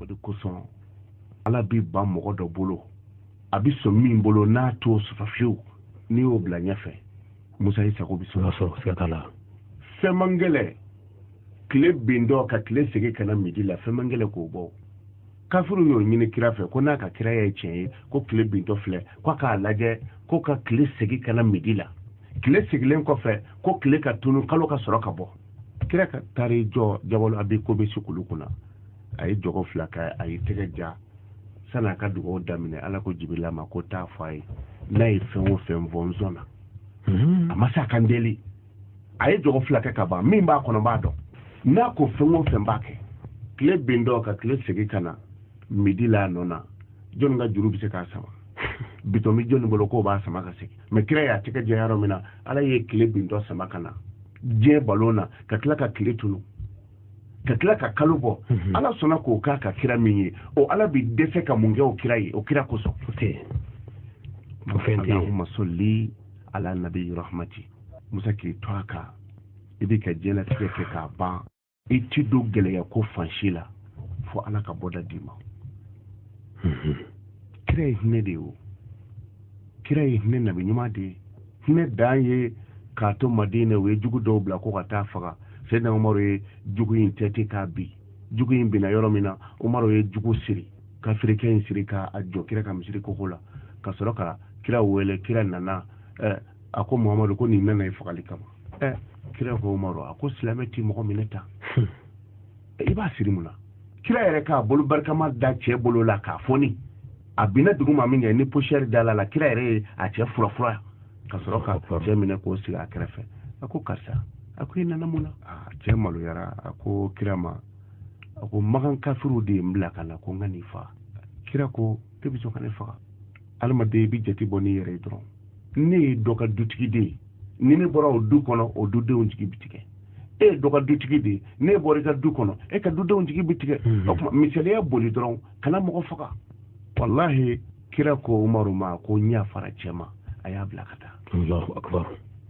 o de kosɔn ala bɛ ban mɔgɔ dɔ bolo a bɛ sɔn min bolo n'a t'o sɔrɔ fiyewu n'i y'o bila ɲɛfɛ musa i sago bɛ sɔrɔ siga t'a la fɛn man gɛlɛ tile bintɔ ka tile segi ka na midi la fɛn man gɛlɛ k'o bɔ kafiriw y'o ɲini kira fɛ ko n'a ka kira ye tiɲɛ ye ko tile bintɔ filɛ ko a k'a lajɛ ko ka tile segi ka na midi la tile segilen kɔfɛ ko tile ka tunu kalo ka sɔrɔ ka bɔ kira ka taari jɔ jabalo abi kubɛsi kulu kunna a ye jɔgɔ fila kɛ a ye tɛgɛ ja sani a ka dugawu daminɛ ala ko jibirila ma ko taa fɔ a ye n'a ye fɛn o fɛn fɔ n sɔnna a ma sani a ka n deli a ye jɔgɔ fila kɛ ka ban min b'a kɔnɔ n b'a dɔn n'a ko fɛn o fɛn n b'a kɛ tile bintɔ ka tile segin ka na midi la a nɔ na jɔnni ka juru bɛ se k'a sama bitɔn bɛ jɔnni bolo k'o b'a sama ka segin mɛ kira y'a tɛgɛ ja yɔrɔ min na ala ye tile bintɔ sama ka na diɲɛ balon na ka tila ka tile tunu ka tila ka kalo bɔ mhm. ala sɔnna k'o k'a ka kira min ye o ala bi dɛsɛ ka mun kɛ o kira ye o kira kosɔn allahumma salli ala nabi rahmati musa k'i to a kan i b'i ka diɲɛlatigɛ kɛ k'a ban i ti don gɛlɛya ko fan si la fo ala ka bɔda d'i ma mhm. kira ye hinɛ de ye o kira ye hinɛ nabi ɲuman de ye hinɛ dan ye k'a to madina u ye jugu dɔw bila ko ka taa faga sɛdina umaru ye jugu in tɛti k'a bin jugu in binna yɔrɔ min na umaru ye jugu siri kafirikɛ in siri k'a jɔ kira ka misiri koko la ka sɔrɔ ka kira wele kira nana eh, a ko muhamadu ko nin nana i fagali kama eh. kira ko umaru a ko silamɛ ti mɔgɔ minɛ tan hmm. i b'a siri mun na kira yɛrɛ k'a bolo barikama da cɛ bolo la k'a foni a binna dugu ma min kɛ ni posiyɛri dal'a la kira yɛrɛ ye a cɛ furafura ka sɔrɔ ka cɛ minɛ k'o sigi a kɛrɛfɛ a ko karisa a ko i nana mun na cɛ maloyara a ko kira ma a ko makan kafiriw de ye n bila ka na ko n ka n'i faga kira ko e bɛ sɔn ka ne faga adamaden i bɛ jate bɔ n'i yɛrɛ ye dɔrɔn ne ye dɔ ka dutigi de ye ni ne bɔra o du kɔnɔ o dudenw jigi bɛ tigɛ e ye dɔ ka dutigi de ye n'e bɔra i ka du kɔnɔ e ka dudenw jigi bɛ tigɛ o tuma misaliya boli dɔrɔn kana mɔgɔ faga walahi kira ko umaru ma ko n yafara cɛ ma a y'a bila ka taa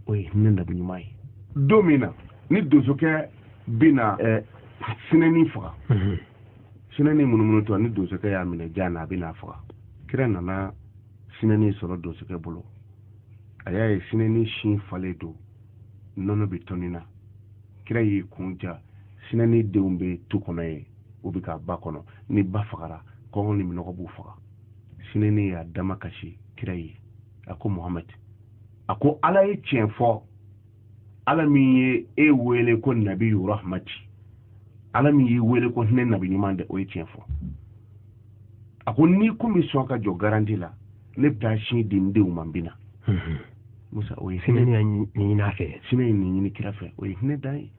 o ye hinɛ nabi ɲuman ye don min na ni donsokɛ bɛ na sinɛni faga sinɛni munumunutɔ ni donsokɛ y'a minɛ jan na a bɛ n'a faga kira nana sinɛni sɔrɔ donsokɛ bolo a y'a ye sinɛni sin falen don nɔnɔ bɛ tɔni na kira y'i kun ja sinɛni denw bɛ tu kɔnɔ ye u bɛ ka ba kɔnɔ ni ba fagara kɔngɔ ni minɔgɔ b'u faga sinɛni y'a dama kasi kira ye a ko muhamadi a ko ala ye tiɲɛ fɔ ala min ye e wele ko nabi rahmati ala min y'i wele ko hinɛ nabi ɲuman de o ye tiɲɛ fɔ a ko n'i kun bɛ sɔn ka jɔ garanti la ne bɛ taa sin di n denw ma n bɛ na mhm. musa o ye hinɛ ɲini a fɛ sinɛ ye nin ɲini kira fɛ o ye hinɛ dan ye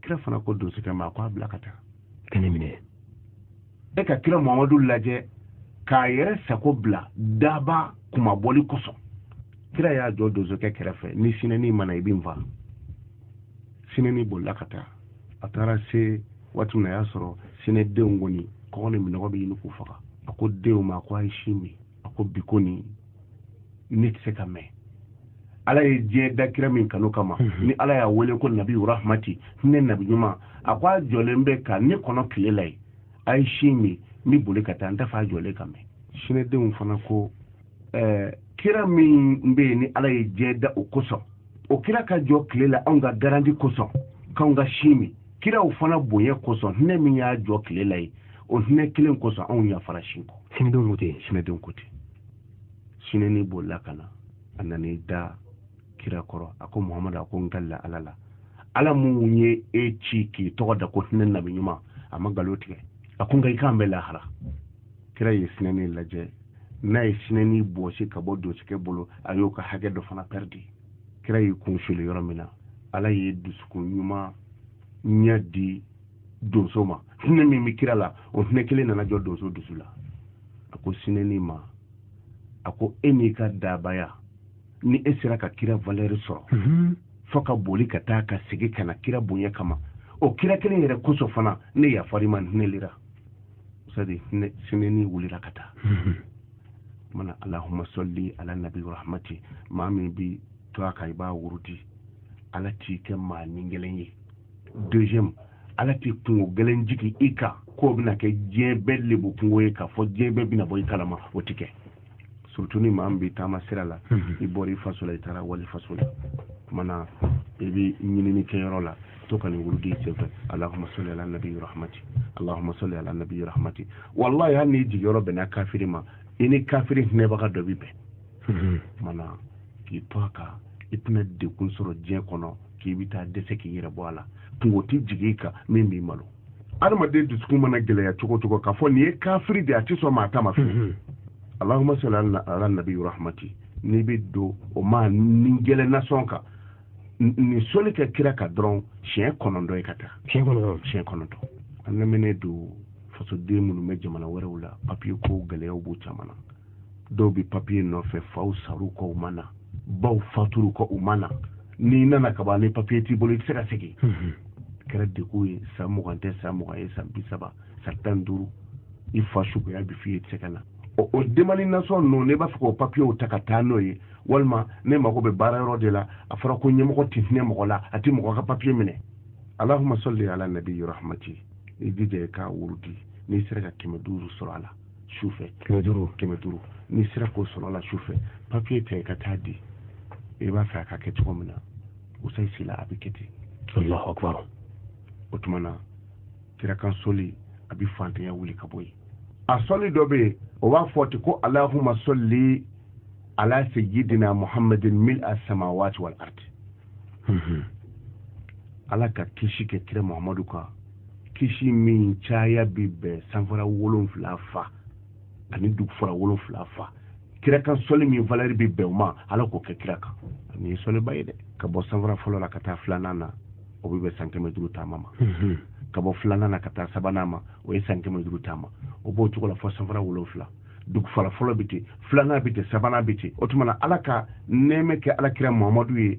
kira fana ko donsokɛ ma a ko a bila ka taa ka ne minɛ e ka kira muhamadu lajɛ k'a yɛrɛ sago bila daba kumabali kosɔn kira y'a jɔ donsokɛ kɛrɛfɛ ni sinɛni ma na i bɛ n faa sinɛni bolila ka taa a taara se waati min na a y'a sɔrɔ sinɛdenw kɔni kɔngɔ ni minnɔgɔ bɛ ɲini k'u faga a ko denw ma ko a ye sin min a ko bi ko nin ne tɛ se ka mɛn ala ye diɲɛ da kira min kanu kama mhm. ni ala y'a wele ko nabi rahmati hinɛ nabi ɲuman a ko a jɔlen bɛ ka ne kɔnɔ tile la yen a ye sin min n bɛ boli ka taa n t'a fɛ a jɔlen ka mɛn sinɛdenw fana ko ɛɛ kira min bɛ yen ni ala ye diɲɛ da o kosɔn o kira ka jɔ tile la anw ka garanti kosɔn k'anw ka sin min kiraw fana bonya kosɔn hinɛ min y'a jɔ tile la yen o hinɛ kelen kosɔn anw yafara sin kɔ sinɛdenw ko ten sinɛdenw ko ten sinɛni bolila ka na a nan'i da kira kɔrɔ a ko muhamadu a ko n kalila ala la ala min ye e ci k'i tɔgɔ da ko hinɛ nabi ɲuman a ma nkalon tigɛ a ko nka i k'an bɛn lahara kira ye sinɛni lajɛ n'a ye sinɛni bɔsi ka bɔ donsokɛ bolo a y'o ka hakɛ dɔ fana pɛridi kira y'i kun suli yɔrɔ min na ala ye dusukun ɲuman ɲɛ di donso ma hinɛ min bɛ kira la o hinɛ kelen nana jɔ donso dusu la a ko sinɛni ma a ko e n'i ka dabaya ni e sera ka kira valeur sɔrɔ mhm. fo ka boli ka taa ka segin ka na kira bonya kama o kira kelen yɛrɛ kosɔn fana ne yafar'i ma hinɛlira sadi sinɛni wulira ka taa mhm. mana alahuma sali ala nabi rahmati maa min b'i to a kan i b'a wurudi ala t'i kɛ maa ni gɛlɛn ye deuxième ala tɛ kunko gɛlɛn jigin i kan k'o bɛna kɛ diɲɛ bɛɛ lebu kunko ye k'a fɔ diɲɛ bɛɛ bɛna bɔ i kalama o tɛ kɛ surtout ni maa min bɛ taama sira la mhm. i bɔra i faso la i taara wali faso la tuma na i bɛ ɲinini kɛyɔrɔ la to ka nin wurudi senfɛ allahuma sali ala nabi rahmati allahuma sali ala nabi rahmati wallahi hali n'i jigiyɔrɔ bɛnna kafiri ma i ni kafiri hinɛbaga dɔ bɛ bɛn mhm. mana k'i to a kan i tɛna degun sɔrɔ diɲɛ kɔnɔ k'i bɛ taa dɛsɛ k'i yɛrɛ bɔ a la kunko tɛ jigin i kan min b'i malo adamaden dusukun mana gɛlɛya cogo cogo k'a fɔ nin ye kafiri de a tɛ sɔn maa ta ma fɛ mhm. alahuma sali ala nabi rahmati n'i bɛ don o maa ni gɛlɛn na sɔn ka nin soli kɛ kira kan dɔrɔn siɲɛ kɔnɔntɔn ye ka taa siɲɛ kɔnɔntɔn siɲɛ kɔnɔntɔn an lamɛnnen don fasoden minnu bɛ jamana wɛrɛw la papiye ko gɛlɛyaw b'u caman na dɔw bɛ papiye nɔfɛ faw sara u kɔ u ma na baw fatura u kɔ u ma na n'i nana ka ban ni papiye t'i bolo i tɛ se ka segin mhm. kɛra degun ye san mugan tɛ san mugan ye san bi saba san tan duuru i fa suguya bi f'i ye i tɛ se ka na o o demalinasɔn ninnu ne b'a fɛ k'o papiyew ta ka taa n'o ye walima ne mago bɛ baara yɔrɔ de la a fɔra ko ɲɛmɔgɔ tɛ hinɛ mɔgɔ la a tɛ mɔgɔ ka papiye minɛ alahuma sɔli ala nabiyi rahmati i jija i k'a wurudi n'i sera ka kɛmɛ duuru sɔrɔ a la sufɛ kɛmɛ duuru kɛmɛ duuru n'i sera k'o sɔrɔ a la sufɛ papiye ta i ka taa di i b'a fɛ a ka kɛ cogo min na usayi sila a bɛ kɛ ten alahu akbar o tuma na kira kan sɔli a bɛ fantanya wuli ka bɔ yen a sɔli dɔ bɛ yen o b'a fɔ ten ko alahuma sɔli ala sayyidina muhammadin mil a samawati wal ardi mhm. ala ka kisi kɛ kira muhammadu kan kisi min caya bɛ bɛn sanfara wolonfila fa ani dugufara wolonfila fa kira kan sɔli min valɛri bɛ bɛn o ma ala k'o kɛ kira kan nin ye sɔliba ye dɛ ka bɔ sanfara fɔlɔ la ka taa filanan na o bɛ bɛn san kɛmɛ duuru taama ma mhm. ka bɔ filanan na ka taa sabanan ma o ye san kɛmɛ duuru taama o b'o cogo la fɔ sanfara wolonfila dugufara fɔlɔ bɛ ten filanan bɛ ten sabanan bɛ ten o tuma na ala ka nɛɛmɛ kɛ alakira muhamadu ye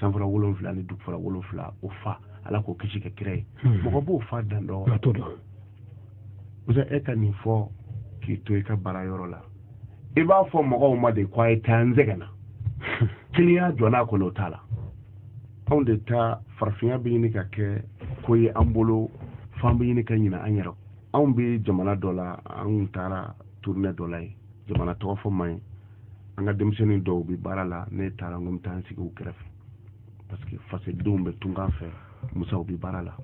sanfara wolonfila ni dugufara wolonfila o fa ala k'o kisi kɛ kira ye hmm. mɔgɔ b'o fa dan dɔn musa e ka nin fɔ k'i to i ka baara yɔrɔ la i b'a fɔ mɔgɔw ma de ko a ye taa n sɛgɛnna kiliyan jɔ n'a kɔnɔ o t'a la anw de ta farafinya bɛ ɲini ka kɛ ko ye an bolo f'an bɛ ɲini ka ɲina an yɛrɛ anw bɛ jamana dɔ la an taara turune dɔ la yen jamana tɔgɔ fɔ man ɲi an ka denmisɛnnin dɔw bɛ baara la ne taara n ko n bɛ taa n sigi u kɛrɛfɛ parce que fasodenw bɛ tunkan fɛ musa u bɛ baara la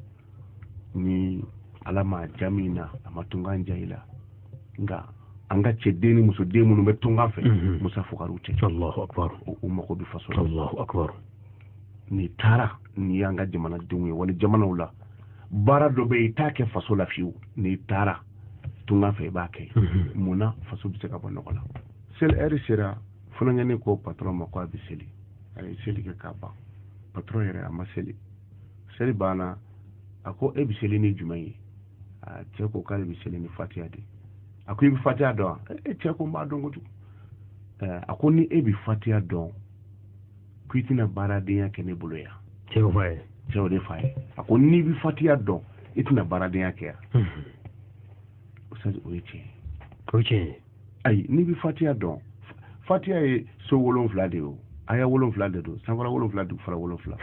ni ala ma ja min na a ma tunkan ja i la nka an ka cɛden ni musoden minnu bɛ tunkan fɛ mhm. musa fugariw tɛ u mago bɛ faso la n'i taara n'i y'an ka jamanadenw ye wali jamanaw la baara dɔ bɛ yen i t'a kɛ faso la fiyewu n'i taara tunga fɛ i b'a kɛ mhm. mun na faso bɛ se ka bɔ nɔgɔ la seli ɛri sera funankɛnin ko patɔrɔn ma ko a bɛ seli a ye seli kɛ k'a ban patɔrɔn yɛrɛ a ma seli seli banna a ko e bɛ seli ni jumɛn ye a cɛ ko k'ale bɛ seli ni fatiya de a ko i bɛ fatiya dɔn wa e cɛ ko n b'a dɔn kojugu a ko ni e bɛ fatiya dɔn ko i tɛna baaradenya kɛ ne bolo yan cɛw fa ye cɛw de fa ye a ko n'i bɛ fatiya dɔn i tɛna baaradenya kɛ yan ustaz o ye tiɲɛ ye o ye tiɲɛ ye ayi n'i bɛ fatiya dɔn fatiya ye so wolonfila de ye o aya wolonfila de don sanfara wolonfila dugufara wolonfila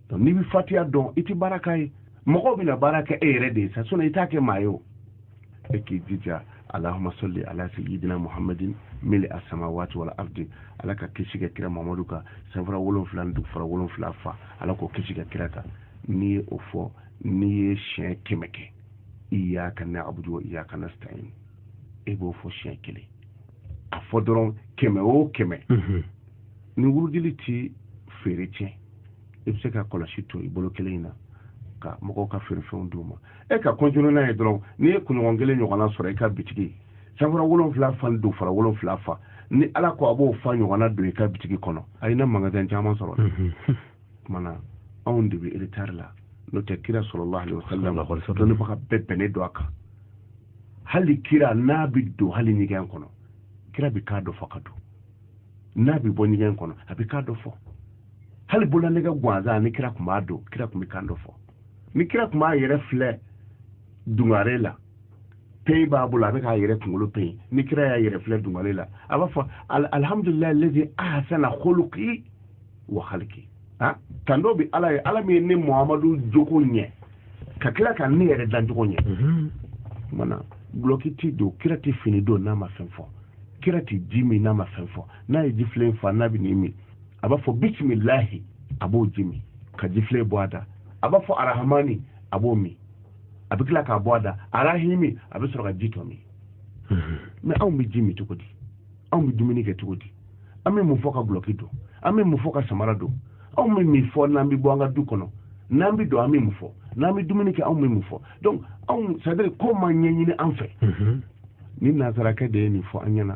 donc n'i bɛ fatiya dɔn i tɛ baara k'a ye mɔgɔw bɛna baara kɛ e yɛrɛ de ye sa sinɔn i t'a kɛ maa ye o e k'i jija alahuma sɔli ala seyidina muhamadin mil'a samawati wal ardi ala ka kisi kɛ kira muhamadu kan sanfara wolonfila ni dugufara wolonfila fa ala k'o kisi kɛ kira kan n'i ye o fɔ n'i ye siɲɛ kɛmɛ kɛ iyaka na'budu wa iyaka nasta'in e b'o fɔ siɲɛ kelen a fɔ dɔrɔn kɛmɛ o kɛmɛ mhm. nin wurudili ti feere tiɲɛ i bɛ se ka kɔlɔsi to i bolo kelen in na ka mɔgɔw ka feerefɛnw d'u ma e ka kɔntinu n'a ye dɔrɔn n'i ye kunɲɔgɔn kelen ɲɔgɔnna sɔrɔ i ka bitigi sanfara wolonfila fa dugufara wolonfila fa ni ala ko a b'o fa ɲɔgɔnna don i ka bitigi kɔnɔ a ye na magasin caman sɔrɔ kumana anw de bɛ eretari la n'o tɛ kira salalahu alayihi wasalamu dɔnbaga bɛɛ bɛnnen don a kan hali kira n'a bɛ don hali ɲɛgɛn kɔnɔ kira bɛ kan dɔ fɔ ka don n'a bɛ bɔ ɲɛgɛn kɔnɔ a bɛ kan dɔ fɔ hali bololanɛgɛ gansan ni kira tun b'a don kira tun bɛ kan dɔ fɔ ni kira tun b'a yɛrɛ filɛ dungare la peyi b'a bolo a bɛ k'a yɛrɛ kunkolo peyi ni kira y'a yɛrɛ filɛ dungare la a b'a fɔ alihamudulilayi lezi ahasana kuluki wa haliki ah, tando bɛ ala ye ala min ye ne muhamadu jogo ɲɛ ka tila ka ne yɛrɛ dancogo ɲɛ mhm. mana gulɔki ti don kira tɛ fini don n'a ma fɛn fɔ kira tɛ ji min n'a ma fɛn fɔ n'a ye jifilen fa n'a bɛ nin min a b'a fɔ bisimilahi a b'o ji min ka jifilen bɔ a da a b'a fɔ arahamani a b'o min a bɛ tila k'a bɔ a da arahimi a bɛ sɔrɔ ka ji tɔ min mhm. mɛ anw bɛ ji min cogo di anw bɛ dumuni kɛ cogo di an bɛ mun fɔ ka gulɔki don an bɛ mun fɔ ka samara don anw bɛ mun fɔ n'an bɛ bɔ an ka du kɔnɔ n'an bɛ don an bɛ mun fɔ n'an bɛ dumuni kɛ anw bɛ mun fɔ donc anw c'est à dire ko ma ɲɛɲini an fɛ mhm. ni nansarakɛ de ye nin fɔ an ɲɛna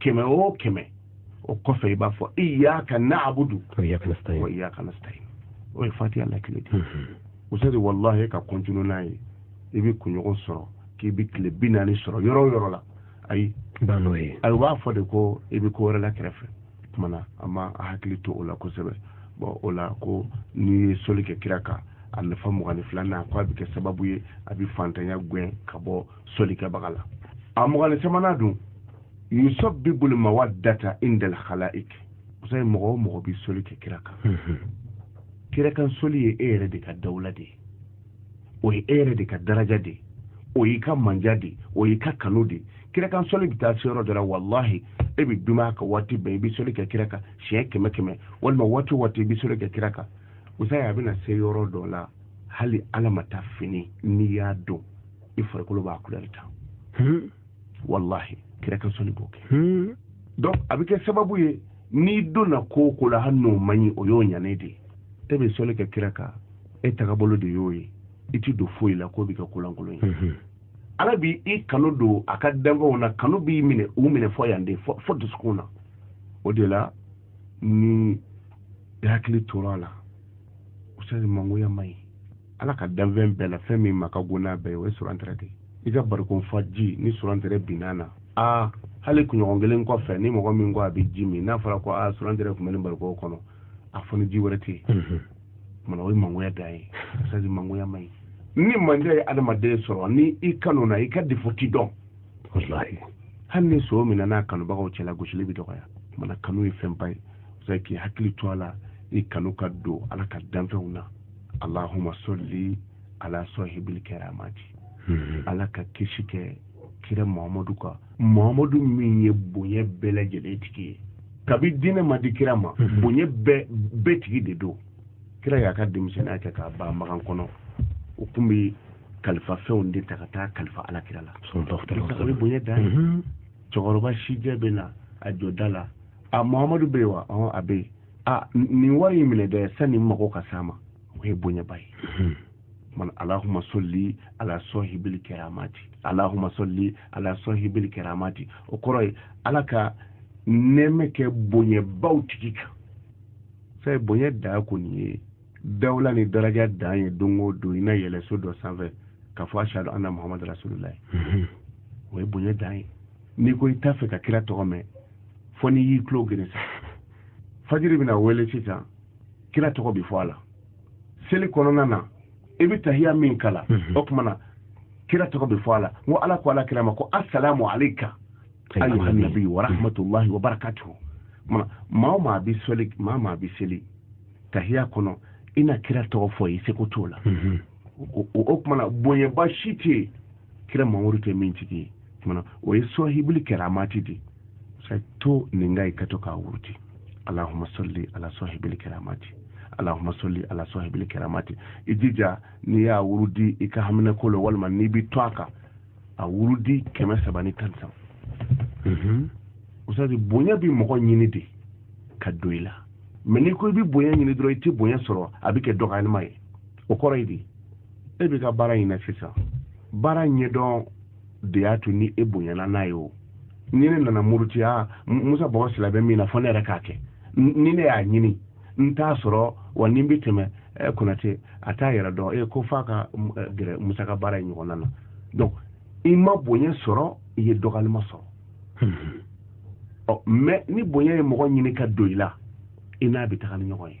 kɛmɛ o kɛmɛ o kɔfɛ i b'a fɔ iyaka na'budu wa iyaka nasta'in o ye fatiha lakile de usadi mhm. walahi ka kɔntinu n'a ye i bɛ kunɲɔgɔn sɔrɔ k'i bɛ tile bi naani sɔrɔ yɔrɔ o yɔrɔ la ayi n'o ye ayi u b'a fɔ de ko i bɛ ko wɛrɛ la kɛrɛfɛ kumana an ma an hakili to o la kosɛbɛ bɔn o la ko n'i ye soli kɛ kira kan a nafa mugan ni filanan k'a bɛ kɛ sababu ye a bɛ fantanya gɛn ka bɔ solikɛbaga la a mugan ni sabanan dun yusabibul mawadata indal khalaik musa ye mɔgɔ o mɔgɔ bi soli kɛ kira kan mhm. kira kan soli ye e yɛrɛ de ka dawula de ye o ye e yɛrɛ de ka daraja de ye o y'i ka mandiya de ye o y'i ka kanu de ye kira kan soli bɛ taa se yɔrɔ dɔ la walahi e bɛ dumaya ka waati bɛɛ i bɛ soli kɛ kira kan siɲɛ kɛmɛ kɛmɛ walima waati o waati i bɛ soli kɛ kira kan musa ye a bɛna se yɔrɔ dɔ la hali ala ma taa fini n'i y'a don i farikolo b'a kulɛri ta hmm. wallahi kira ka sɔli b'o kɛ hmm. donc a bɛ kɛ sababu ye n'i donna ko o ko la hali n'o man ɲi o y'o ɲanen de ye e bɛ sɔli kɛ kira kan e tagabolo de y'o ye i ti don foyi la k'o bɛ kɛ kolankolon ye hmm. ala bi i kanu don a ka danfɛnw na kanu b'i minɛ u minɛ fo yan de fo dusukun na o de la ni i hakili tora a la usadi mangoya man ɲi ala ka danfɛn bɛɛ la fɛn min ma ka go n'a bɛɛ o ye surantere de i ka barikon fa ji ni surantere binna a la hali kunɲɔgɔn kelen kɔfɛ ni mɔgɔ min ko a bɛ ji min n'a fɔra ko a surantere tun bɛ nin barikon kɔnɔ a fɔ ni ji wɛrɛ tɛ yen tuma na o ye mangoya dan ye usadi mangoya man ɲi ni mangoya ye adamaden sɔrɔ ni i kanuna i ka defo ti dɔn hali ni son minɛna a kanubagaw cɛla gosili bɛ dɔgɔya tuma na kanu ye fɛnba ye k'i hakili to a la i kanu ka don ala ka danfɛnw na allahuma solli ala sohibil keramati hmm. ala ka kisi kɛ kira mahamadu kan mahamadu min ye bonya bɛɛ lajɛlen tigi ye kabi diinɛ ma di kira ma hmm. bonya bɛɛ tigi de don kira y'a ka denmisɛnniya kɛ k'a ban makan kɔnɔ o tun bɛ kalifa fɛnw de ta ka taa kalifa ala kira la o ye bonya dan ye hmm. cɛkɔrɔba sijɛ bɛ na a jɔ da la a mahamadu bɛ yen wa a bɛ yen a nin wari in minɛ dɛ sani mago ka s'a ma o ye bonyaba ye hmm. man alahuma sɔli ala sɔhibili kɛramati alahuma sɔli ala sɔhibili kɛramati o kɔrɔ ye ala ka nɛɛma kɛ bonyabaw tigi kan fɛ bonya da ko nin ye dawula ni daraja dan ye don o don i na yɛlɛ so dɔ sanfɛ k'a fɔ ashadu anna muhamadu rasululayi hmm. o ye bonya dan ye n'i ko i t'a fɛ ka kira tɔgɔ mɛn fo n'i y'i tulo geren sa fajiri bɛna wele sisan kira tɔgɔ bɛ fɔ a la seli kɔnɔna na i bɛ tahiya min kalan mhm. o tuma na kira tɔgɔ bɛ fɔ a la n ko ala ko ala kira ma ko asalamu aleyka ayyuhan nabi wa rahmatulahi wa barakatuhu maa o maa bɛ seli maa o maa bɛ seli tahiya kɔnɔ i na kira tɔgɔ fɔ i seko t'o la mhm. o tuma na bonyaba si tɛ yen kira mamadu tɛ min tigi ye tuma na o ye sɔhibuli kɛramati de sa to nin kan i ka to k'a wurudi alahuma sɔli ala sɔhibuli kɛramati alahuma sɔli ala sɔhibuli kɛramati i jija n'i y'a wurudi i ka haminanko la walima n'i bɛ to a kan a wurudi kɛmɛ saba ni tan ni saba mhm. usadi bonya bɛ mɔgɔ ɲini de ka don i la mais n'i ko i bɛ bonya ɲini dɔrɔn i tɛ bonya sɔrɔ a bɛ kɛ dɔgɔyalima ye o kɔrɔ ye di e bɛ ka baara in na sisan baara ɲɛdɔn de y'a to ni e bonyana n'a ye o ni ne nana murutiya musa bɔgɔ sila bɛ min na fɔ ne yɛrɛ k'a kɛ ni ne y'a ɲini n t'a sɔrɔ wa ni n bɛ tɛmɛ eh, konate a t'a yɛrɛ dɔn e ko f'a ka eh, gɛrɛ musa ka baara in ɲɔgɔnna na donc i ma bonya sɔrɔ i ye dɔgɔyalima sɔrɔ hmm. ɔ mais ni bonya ye mɔgɔ ɲini ka don i la i n'a bɛ taga ni ɲɔgɔn ye